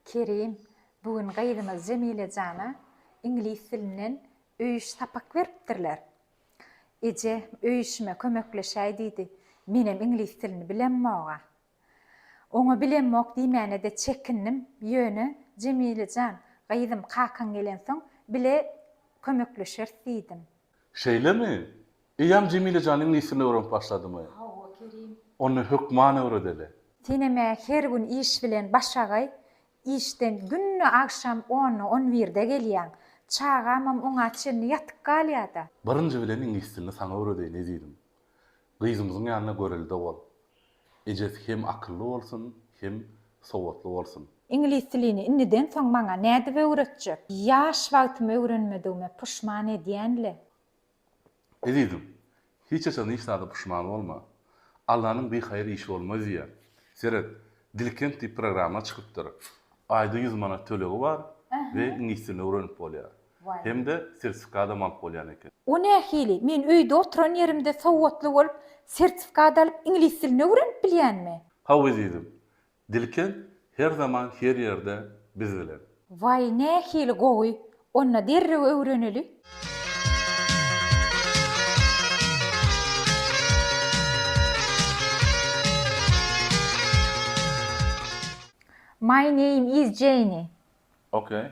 Kerim, bu gün gyzymyz Jemile jana iňlis dilinden öýüş sapak beripdirler. Eje, öýüşime kömekleşäý diýdi. Menem iňlis dilini bilemmog-a. Oňa bilemmok diýmäne-de çekindim. Ýöne, Jemile jan, gyzym, kakaň gelensoň, bile kömekleşeris diýdim. Şeýlemi? Eýýäm Jemile jan iňlis dilini öwrenip başladymy? Hawa, Kerim. Onda hökman öwredeli. Senem-ä her gün iş bilen başagaý. Işden günde agşam onda, on birde gelýäň. Çagamam oňa çenli ýatyp galýa-da. Birinji bilen iňlis dilini saňa öwredeýin ezizim. Gyzymyzyň ýanyna görelde bol. Ejesi hem akylly bolsun, hem sowatly bolsun. Iňlis dilini indiden soň maňa nädip öwretjek? Ýaş wagtym öwrenmedigime puşman edýän-le. Ezizim, hiç haçan hiç zada puşman bolma. Allanyň bi haýyr işi bolmaz diýýär. Seret, Dilkent diýip programma çykypdyr. Aýda ýüz manat tölegi bar we iňlis dilini öwrenip bolýar. hem-de sertifikadam alyp bolýan eken. O nähili? Men öýde oturan ýerimde sowatly bolup, sertifikat alyp, iňlis dilini öwrenip bilýänmi? Haw ezizim. Dilken her zaman her ýerde biz bilen. Waý, nähili gowy! Onda derrew öwreneli. My name is Jenny. Okay.